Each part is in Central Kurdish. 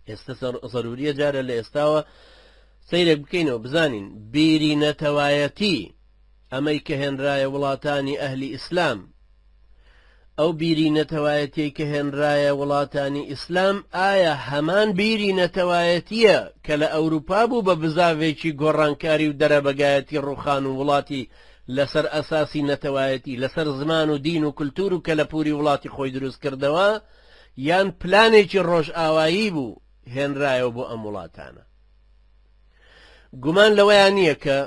ئێستە زەروریە جارە لە ئێستاوە سەیرێک بکەینەوە بزانین بیری نەتەوایەتی ئەمەی کە هێنرایە وڵاتانی ئەهلی ئیسلام ئەو بیری نەتەوایەتی کە هێنرایە وڵاتانی ئیسلام ئایا هەمان بیری نەتەوایەتیە کە لە ئەوروپا بوو بە بزاڤێکی گۆڕانکاری و دەرەبەگایەتی ڕوخان و وڵاتی لەسەر ئەساسی نەتەوایەتی لەسەر زمان و دین و کللتور و کەلەپوری وڵاتی خۆی دروست کردەوە یان پلانێکی ڕۆژئاوایی بوو هێنرایەوە بۆ ئەم وڵاتانە گومان لەوەیان نییە کە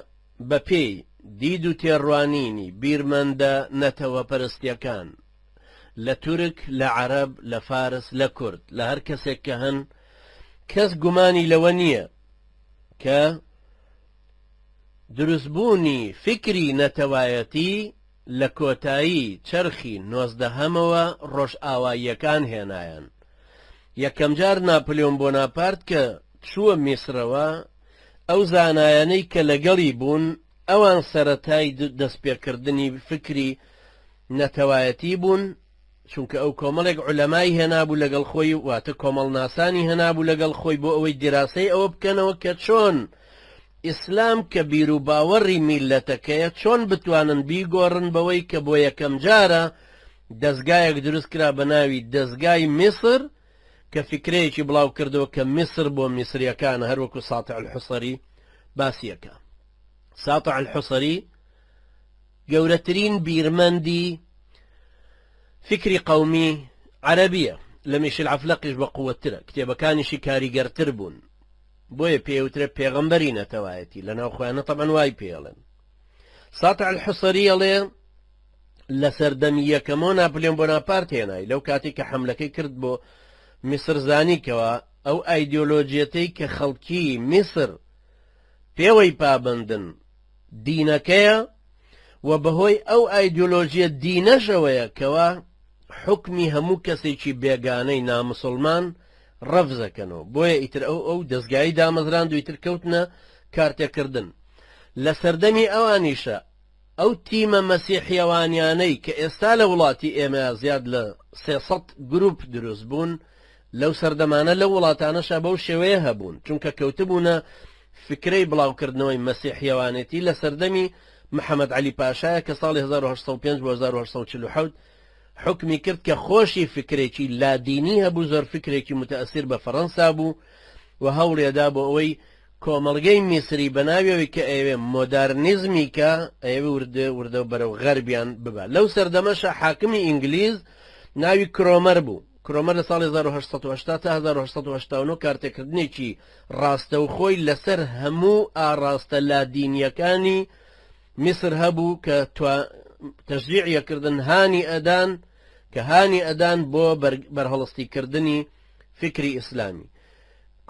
بە پێی دید و تێڕوانینی بیرمەندە نەتەوە پەرستیەکان لە تورک لە عەرەب لە فارس لە کورد لە هەر کەسێک کە هەن کەس گومانی لەوە نییە کە دروستبوونی فیکری نەتەوایەتی لە کۆتایی چەرخی نۆزدەهەمەوە ڕۆژئاواییەکان هێنایان یەکەمجار ناپلیۆن بۆناپارت کە چووە میسرەوە ئەو زانایانەی کە لەگەڵی بوون ئەوان سەرەتای دەستپێکردنی فیکری نەتەوایەتی بوون چونکە ئەو کۆمەڵێک عولەمای هێنابوو لەگەڵ خۆی واتە کۆمەڵناسانی هێنابوو لەگەڵ خۆی بۆ ئەوەی دیراسەی ئەوە بکەنەوە کە چۆن ئیسلام کە بیروباوەڕی میللەتەکەیە چۆن بتوانن بیگۆڕن بەوەی کە بۆ یەکەم جارە دەزگایەک دروست کرا بە ناوی دەزگای میسر کە فکرەیەکی بڵاو کردەوە کە میسر بۆ میسریەکان هەروەکو ساتع الحسری باسیەکە ساتع الحسری گەورەترین بیرمەندی فیکری قەومی عەرەبیە لە میشیل عەفلەقیش بە قوەتترە کتێبەکانیشی کاریگەرتر بوون بۆیە پێی ئەوترێ پێغەمبەری نەتەوایەتی لە ناو خۆیانە تەبعەن وای پێ ئەڵێن ساتع الحصری ئەڵێ لە سەردەمی یەکەمەوە ناپلیۆن بۆناپارت هێنای لەو کاتی کە حملەکەی کرد بۆ میسر زانی کەوە ئەو ئایدۆلۆجیەتەی کە خەڵکی میسر پێوەی پابەندن دینەکەیە و بەهۆی ئەو ئایدیۆلۆژیە دینەشەوەیە کەوا حوکمی هەموو کەسێکی بێگانەی ناموسڵمان ڕەفزەکەنەوە بۆیە ئیتر ئەو ئەو دەزگایی دامەزراند و ئیتر کەوتنە کارتێکردن لە سەردەمی ئەوانیشە ئەو تیمە مەسیحیەوانیانەی کە ئێستا لە وڵاتی ئێمە زیاد لە سێسەد گروپ دروست بوون لەو سەردەمانە لەو وڵاتانەشا بەو شێوەیە هەبوون، چونکە کەوتبوونە فکرەی بڵاوکردنەوەی مەسیحییەوانێتی لە سەردەمی محەمەد عەلی پاشایە کە ساڵی هەزار و هەشت سەد و پێنج بۆ هەزار و هەشت سەد و چل و حەوت حوکمی کرد کە خۆشی فکرێکی لادینی هەبوو زۆر فکرێکی متەئەسیر بە فەرەنسا بوو و هەوڵێدا بۆ ئەوەی کۆمەڵگەی میسری بەناویەوەی کە ئەیەوێ مۆدارنیزمی کە ئەیەوێ وردە وردە بەرەو غەربیان ببا لەو سەردەمەشە حاکمی ئینگلیز ناوی کرۆمەر بوو کرۆمەر لە ساڵی هەزار و هەشت سەد و هەشتا تا هەزار و هەشت سەد و هەشتا و نۆ کارتێکردنێکی ڕاستەوخۆی لەسەر هەموو ئاڕاستە لادینییەکانی میسر هەبوو کە تەشجیعی ئەکردن هانی ئەدان کە هانی ئەدان بۆ بەرهەڵستیکردنی فکری ئیسلامی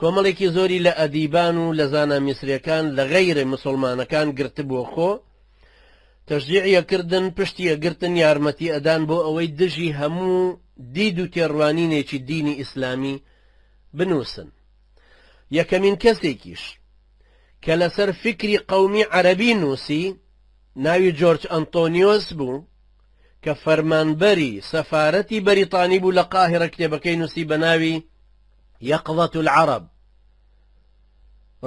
کۆمەڵێکی زۆری لە ئەدیبان و لە زانا میسرەکان لە غەیرە مسلمانەکان گرتبووە خۆ تەشجیعی یەکردن، پشتی یەکگرتن یارمەتی ئەدان بۆ ئەوەی دژی هەموو دید و تێڕوانینێکی دینی ئیسلامی بنووسن. یەکەمین کەسێکیش کە لەسەر فیکری قەومی عەرەبی نووسی، ناوی جۆرج ئەنتۆنیۆس بوو کە فەرمانبەری سەفارەتی بەریتانی بوو لە قاهیرە کتێبەکەی نووسی بە ناوی، یقظە العرب،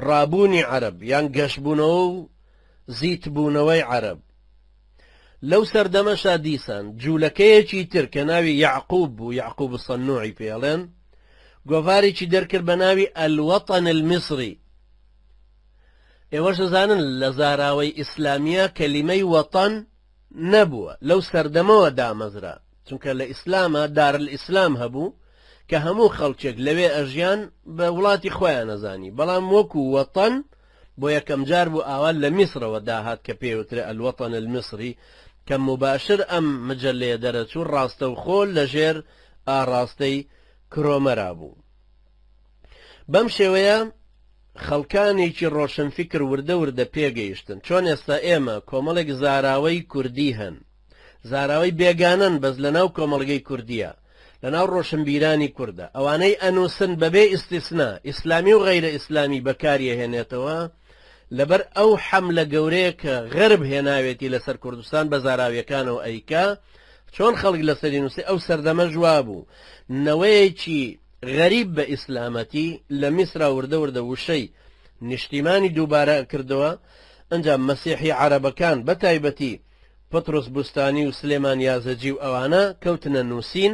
ڕابوونی عەرەب یان گەشبوونەوە و زیتبوونەوەی عەرەب. لەو سەردەمەشا دیسان جوولەکەیەکی تر کە ناوی یەعقوب بوو، یەعقوب الصنوعی پێی ئەڵێن، گۆڤارێکی دەرکرد بە ناوی الوطن المصری. ئێوەش ئەزانن لە زاراوەی ئیسلامییە کەلیمەی وەتەن، نەبووە لەو سەردەمەوە دامەزرا چونکە لە ئیسلاما دارلئیسلام هەبوو کە هەموو خەڵکێک لەوێ ئەژیان بە وڵاتی خۆیان ئەزانی بەڵام وەکو وەتەن بۆ یەکەم جار بوو ئاوا لە میسرەوە داهات کە پێی وترێ الوطن المصری کە موباشر ئەم مجەلەیە دەرەچوو ڕاستەوخۆ لەژێر ئاڕاستەی کرۆمەرا بوو. بەم شێوەیە خەڵکانێکی ڕۆشنفیکر وردە وردە پێگەیشتن چۆن ئێستا ئێمە کۆمەڵێک زاراوەی کوردی هەن زاراوەی بێگانەن بەس لەناو کۆمەڵگەی کوردیە لەناو ڕۆشنبیرانی کوردە ئەوانەی ئەنووسن بەبێ ئیسیسنا ئیسلامی و غەیرە ئیسلامی بەکاریەهێنێتەوە لەبەر ئەو حەملە گەورەیە کە غەرب هێناوێتی لەسەر کوردستان بە زاراویەکانەوە ئەیکا چۆن خەڵک لەسەری نووسی ئەو سەردەمە ژوابوو نەوەیەکی غەریب بە ئیسلامەتی لە میسرا وردە وردە وشەی نیشتیمانی دووبارە کردەوە ئەجا مەسیحی عربەکان بە تایبەتی پطرس بستانی و سلێمان یازەجی و ئەوانە کەوتنە نووسین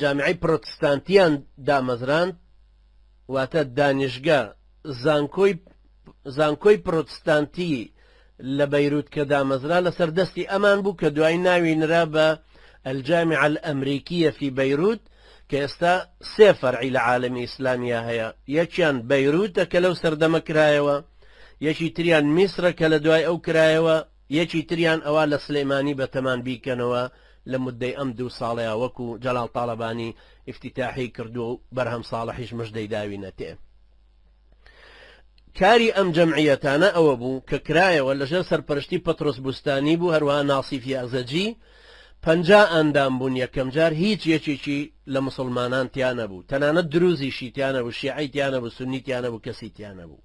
جامیعەی پرۆتستانتیان دامەزراند واتە دانیشگە زانکۆی زانکۆی پرۆتستانتی لە بەیروت کە دامەزرا لەسەر دەستی ئەمان بوو کە دوای ناوی نرا بە ئەلجامی عل ئەمریکیە فی بەیروت کە ئێستا سێ فەرعی لە عالمی ئیسلامیا هەیە یەکیان بەیروتە کە لەو سەردەمە کرایەوە یەکی تریان میسرە کە لە دوای ئەو کرایەوە یەکی تریان ئەوا لە سلیمانی بەتەمان بیکەنەوە لە مودەی ئەم دوو ساڵەیا وەکو جەلال تاڵەبانی ئیفتیتاحی کردوە و بەرهەم ساڵحیش مژدەی داوینەتێ. کاری ئەم جەمعیەتانە ئەوەبوو کە کرایەوە لەژێر سەرپەرشتی پەترۆس بوستانی بوو هەروەها ناسیف یەعزەجی پەنجا ئەندام بوون یەکەمجار هیچ یەکێکی لە موسڵمانان تیا نەبوو تەنانەت دروزیشی تیا نەبوو شیعەی تیا نەبوو سوننی تیا نەبوو کەسی تیا نەبوو.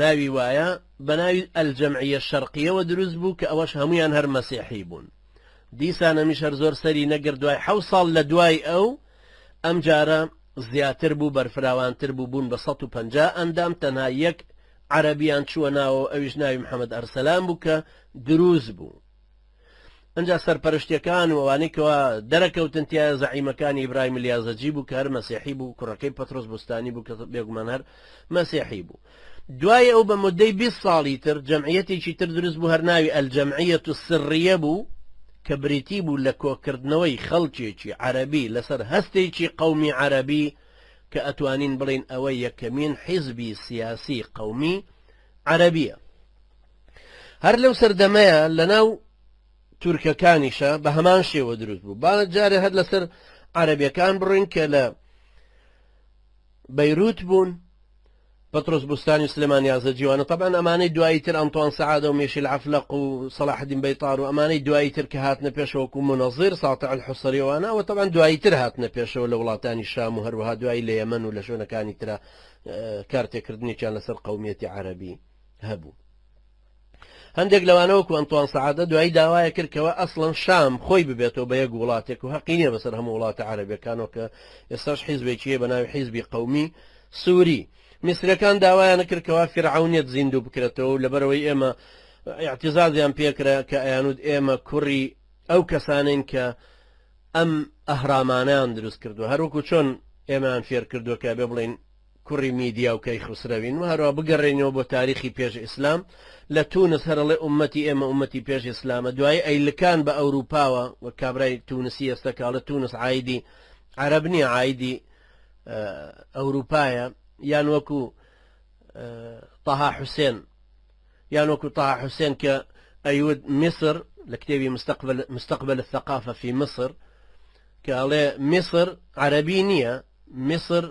ناوی وایە بەناوی الجمعیە شرقیەوە دروست بوو کە ئەوەش هەموویان هەر مەسیحی بوون دیسان ئەمیش هەر زۆر سەری نەگرت دوای حەو ساڵ لە دوای ئەو ئەم جارە زیاتر بوو بەرفراوانتر بوو بوون بە 150 ئەندام تەنها یەک عەرەبیان چووە ناوەوە ئەویش ناوی محەمەد ئەرسەلان بوو کە دروست بوو ئنجا سەرپەرشتیەکان و ئەوانەی کەوا دەرەکەوتن تایە زەعیمەکانی ئیبراهیم الیازەجی بوو کە هەر مەسیحی بوو کوڕەکەی پەترۆس بوستانی بوو کە بێگومان هەر مەسیحی بوو دوای ئەو بە مدەی 20 ساڵی تر جەمعیەتێکی تر دروست بوو هەر ناوی ئەلجەمعیەت و سڕیە بوو کە بریتی بوو لە کۆکردنەوەی خەڵکێکی عەربی لەسەر هەستێکی قومی عەربی کە ئەتوانین بڵین ئەوە یەکەمین حیزبی سیاسی قومی عەربیە هەر لەو سەردەمەیە لەناو تورکەکانیشە بە هەمان شێوە دروست بوو با جارێ هەر لەسەر عەربیەکان بڕین کە لە بەیروت بوون پترۆس بستانی سلێمان یازە جیوانە طبعا ئەمانەی دوایی تر ئەنتوان سعادە و مێشی العفلق و صلاحدین بەیتار و ئەمانەی دوایی تر کە هاتنە پێشەوەکو منەظیر ساتع الحسریوانە و طبعا دوایی تر هاتنە پێشەوە لە وڵاتانی شام و هەروها دوایی لە یەمەن و لە شوێنەکانی ترە کارتێکردنێکیان لەسەر قومیەتی عربی هەبوو هەندێک لەوانە وەکو ئەنتوان سەعادە دوایی داوایە کرد کەەوە ئەسڵەن شام خۆی ببێتەوە بە یەک وڵاتێک و هەقی نیە بەسەر هەموو وڵاتە عربەکانەوە کە ئێستاش حیزبێکیە بە ناوی حیزبی قومی سووری میسرەکان داوایان کردکەوە فرعونیت زیندوو بکرێتەوە و لەبەرەوەی ئێمە اعتزازیان پێکرا کە ئەیانود ئێمە کوڕی ئەو کەسانین کە ئەم ئەهرامانیان دروست کردو هەروەکو چۆن ئێمەیان فێر کردووە کە بێ بڵین کوڕی میدیا و کەیخوسرەوین و هەروا بگەڕێینەوە بۆ تاریخی پێش ئیسلام لە تونس هەر ئەڵێ ئوممەتی ئێمە ئوممەتی پێش ئیسلامە دوایی ئەیلکان بە ئەوروپاوە وەک کابرای تونسی ئێستا کە ئەڵێ تونس عایدی عەرەب نیە عایدی ئەوروپایە یان وەکو طه حسێن یان وەکو طه حسێن کە ئەیود میسر لە کتێبی مستقبل مستقبل الثقافە فی مصر کە ئەڵێ میسر عەرەبی نییە میسر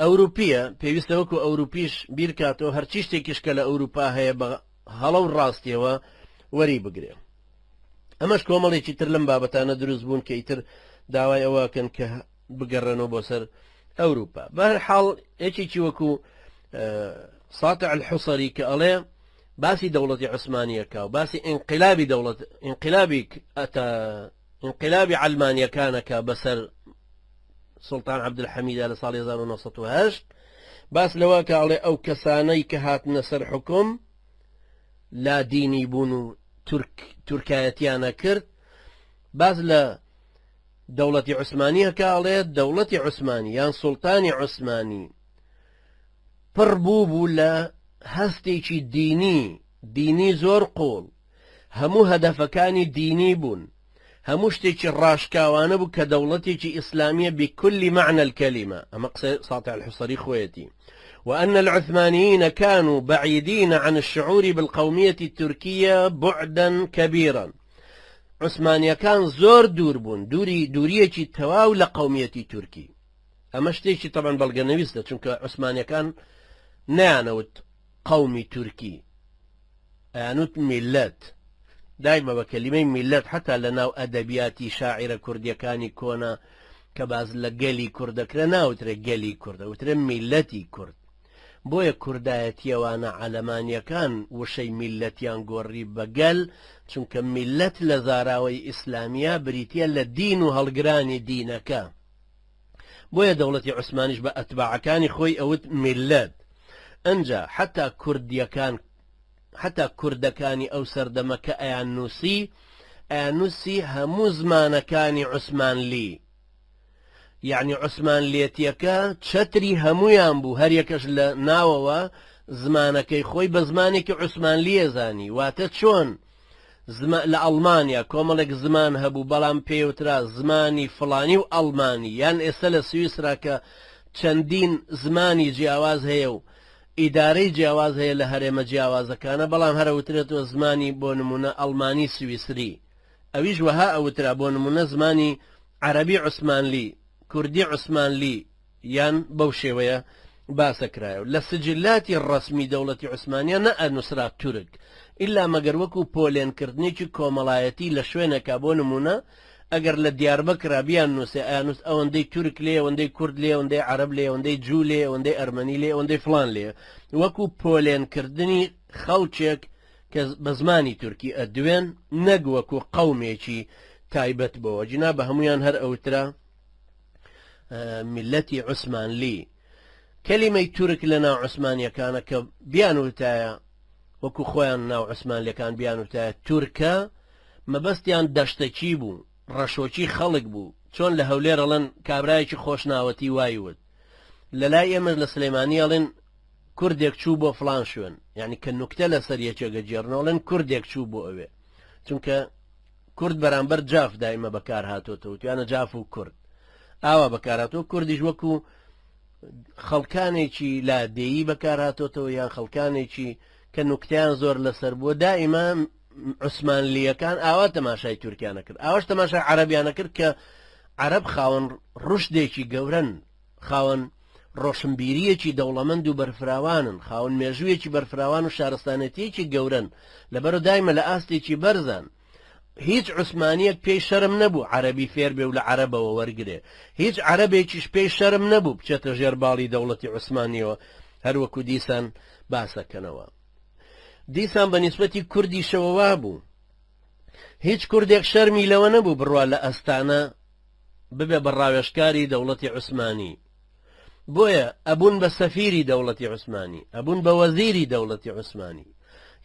ئەوروپیە پێویستە وەکو ئەوروپیش بیرکاتەوە هەرچی شتێکیش کە لە ئەوروپا هەیە بە هەڵە و ڕاستیەوە وەری بگرێ ئەمەش کۆمەڵێکی تر لەم بابەتانە دروست بوون کە ئیتر داوای ئەوەکەن کە بگەڕێنەوە بۆ سەر ئەوروپا بەر حاڵ یەکێکی وەکو ساتە الحوسری کە ئەڵێ باسی دەوڵەتی عوسمانیەکە و باسی ئینقلابی دەوڵەت ئینقلابی ئەتا ئینقلابی عەلمانیەکانە کە بەسەر سوڵتان عەبدولحەمیدا لە ساڵی هەزار و نۆ سەد و هەشت باس لەوە کە ئەڵێ ئەو کەسانەی کە هاتنە سەر حکوم لادینی بوون و تورک تورکایەتیانە کرد باس لە دەوڵەتی عوسمانیەکە ئەڵێ دەوڵەتی عوسمانی یان سوڵتانی عوسمانی پڕ بوو بوو لە هەستێکی دینی دینی زۆر قوڵ هەموو هەدەفەکانی دینی بوون، هەموو شتێکی ڕاشکاوانە بوو کە دەوڵەتێکی ئیسلامییە بکل معنی الکلمە، ئەمە قسەی ساطع الحصری خۆیەتی، وان العثمانیین کانو بعیدین عن الشعور بالقومیە الترکیە بعدا کبیرا، عوسمانییەکان زۆر دوور بوون، دووری دوورییەکی تەواو لە قومیەتی تورکی، ئەمە شتێکی تەبعەن بەڵگەنەویستە، چونکە عوسمانییەکان نەیانەوت، قەومی تورکی ئەیانوت میللەت دایمە بە کەلیمەی میللەت حەتا لە ناو ئەدەبیاتی شاعیرە کوردیەکانی کۆنە کە باس لە گەلی کورد دەکرێ ناوترێ گەلی کورد ئەوترێ میللەتی کورد بۆیە کوردایەتیەوانە عەلەمانیەکان وشەی میللەتیان گۆڕی بە گەل چونکە میللەت لە زاراوەی ئیسلامیە بریتیە لە دین و هەڵگرانی دینەکە بۆیە دەوڵەتی عوسمانیش بە ئەتباعەکانی خۆی ئەوت میللەت ئەنجا حەتا کوردیەکان حەتا کوردەکانی ئەو سەردەمە کە ئەیان نووسی ئەیان نووسی هەموو زمانەکانی عوسمانلی یعنی عوسمانلێتیەکە چەتری هەمویان بوو هەریەکەش لە ناوەوە زمانەکەی خۆی بە زمانێکی عوسمانلیە زانی واتە چۆن؟ زما لە ئەڵمانیا کۆمەڵێک زمان هەبوو بەڵام پێیوترا زمانی فڵانی و ئەڵمانی یان ئێستا لە سویسرا کە چەندین زمانی جیاواز هەیە و ئیدارەی جیاواز هەیە لە هەرێمە جیاوازەکانە بەڵام هەر ئەوترێتەوە زمانی بۆ نموونە ئەڵمانی سویسری ئەویش وەها ئەوترا بۆ نموونە زمانی عەرەبی عوسمانلی کوردی عوسمانلی یان بەو شێوەیە باسە کرایەو لە سجلاتی ڕەسمی دەوڵەتی عوسمانیە نە ئەنوسرا تورک ئیلا مەگەر وەکو پۆلێن کردنێکی کۆمەڵایەتی لە شوێنێکا بۆ نمونە ئەگەر لە دیاربەکرا بیان نوسێ ئەیانوست ئەوەندەی تورک لێیە ئەوەندەی کورد لێیە ئەوەندەی عەرەب لێیە ئەوەندەی جوو لێیە ئەوەندەی ئەرمەنی لێیە ئەوەندەی فڵان لێیە وەکو پۆلێن کردنی خەڵکێک کە بە زمانی تورکی ئەدوێن نەک وەکو قەومێکی تایبەت بۆوە جینا بە هەمویان هەر ئەوترا میلەتی عوسمانلی کەلیمەی تورک لە ناو عوسمانیەکانە کە بیانوتایە وەکو خۆیان ناو عوسمانلەکان بیانوتایە تورکە مەبەستیان دەشتەکی بوو ڕەشۆکی خەڵک بوو چۆن لە هەولێرەڵەن کابراایکی خۆشناوەتی وایوت لە لای ئێمەش لە سلەیمانی ئەڵێن کوردێک چوو بۆ فلان شوێن یعنی کە نوکتە لەسەر یەکێگە جێرنۆڵێن کوردێک چوو بۆ ئەوێ چونکە کورد بەرامبەر جاف دایمە بەکار هاتۆتەوە توانە جاف و کورد ئاوا بەکار هاتووە کوردیش وەکو خەڵکانێکی لادێیی بەکار هاتۆتەوە یان خەڵکانێکی کە نوکتیان زۆر لەسەر بووە دائیمە عوسمانلیەکان ئاوا تەماشای تورکیانە کرد ئاواش تەماشای عربیانە کرد کە عرب خاوەن ڕشدێکی گەورن خاوەن ڕۆشنبیرییەکی دەوڵەمەند و بەرفراوانن، خاوەن مێژوویەکی بەرفراوان و شارستانێتییەکی گەورەن، لەبەرو دایمە لە ئاستێکی بەرزان. هیچ عوسمانییەک پێی شەرم نەبوو عەرەبی فێر بێ و لە عەرەبەوە وەرگرێ، هیچ عەرەبێکیش پێی شەرم نەبوو بچێتە ژێر باڵی دەوڵەتی عوسمانییەوە، هەر وەکو دیسان باسەکەنەوە. دیسان بە نیسبەتی کوردیشەوە وابوو. هیچ کوردێک شەرمی لەوە نەبوو بڕوا لە ئەستانە، ببێ بە ڕاوێژکاری دەوڵەتی عوسمانی بۆیە ئەبوون بە سەفیری دەوڵەتی عوسمانی ئەبوون بە وەزیری دەوڵەتی عوسمانی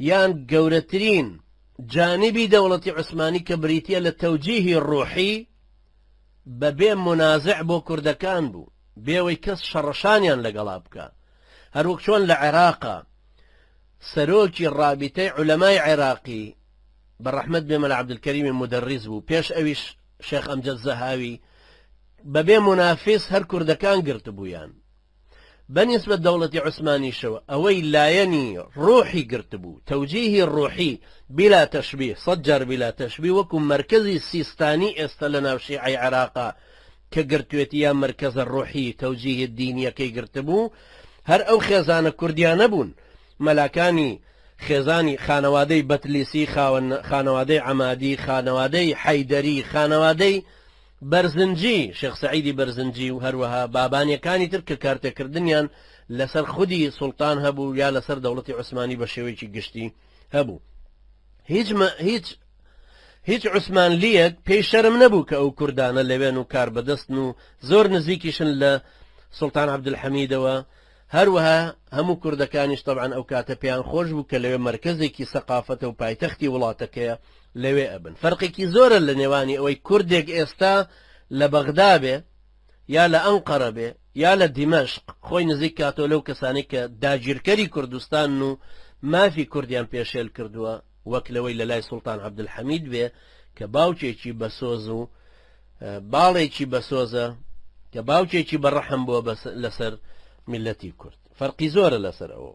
یان گەورەترین جانبی دەوڵەتی عوسمانی کە بریتە لە تەوجیهی ڕوحی بەبێ منازع بۆ کوردەکان بوو بێەوەی کەس شەڕەشانیان لەگەڵا بکە هەروەک چۆن لە عێراقا سەرۆکی ڕابیتەی عولەمای عێراقی بە ڕەحمد بێمە لە عبدکەریمی مدەڕیز بوو پێش ئەویش شێخ ئەمجەد زەهاوی بە بێ مونافیس هەر کوردەکان گرتبوویان بە نیسبەت دەوڵەتی عوسمانیشەوە ئەوەی لایەنی ڕوحی گرتبوو تەوجیهی ڕوحی بیلا تەشبیه سەد جار بیلا تەشبیه وەکو مەرکەزی سیستانی ئێستا لە ناو شیعەی عێراقا کە گرتوێتی یا مەرکەزە ڕوحی تەوجیه دینیەکەی گرتبوو هەر ئەو خێزانە کوردیانە بوون مەلاکانی خێزانی خانەوادەی بەتلیسی، خاوەن خانەوادەی عەمادی، خانەوادەی حەیدەری، خانەوادەی بەرزنجی، شێخ سەعیدی بەرزنجی و هەروەها بابانییەکانی تر کە کارتێکردنیان لەسەر خودی سوڵتان هەبوو یا لەسەر دەوڵەتی عوسمانی بە شێوەیەکی گشتی هەبوو. هیچ مە هیچ هیچ عوسمانلییەک پێی شەرم نەبوو کە ئەو کوردانە لەوێن و کاربەدەستن و زۆر نزیکیشن لە سوڵتان عەبدولحەمیدەوە هەروەها هەموو کوردەکانیش تەبعەن ئەو کاتە پێیان خۆش بوو کە لەوێ مەرکەزێکی سەقافەتە و پایتەختی وڵاتەکەیە لەوێ ئەبن فەرقێکی زۆرە لە نێوانی ئەوەی کوردێک ئێستا لە بەغدا بێ یا لە ئەنقەرە بێ یا لە دیمەشق خۆی نزیک کاتۆ لەو کەسانی کە داگیرکەری کوردستان و مافی کوردیان پێشێل کردووە وەک لەوەی لەلای سوڵتان عەبدولحەمید بێ کە باوکێکی بەسۆز و باڵێکی بەسۆزە کە باوکێکی بەڕەحم بووە لەسەر میلەتی کورد فەرقی زۆرە لەسەر ئەوە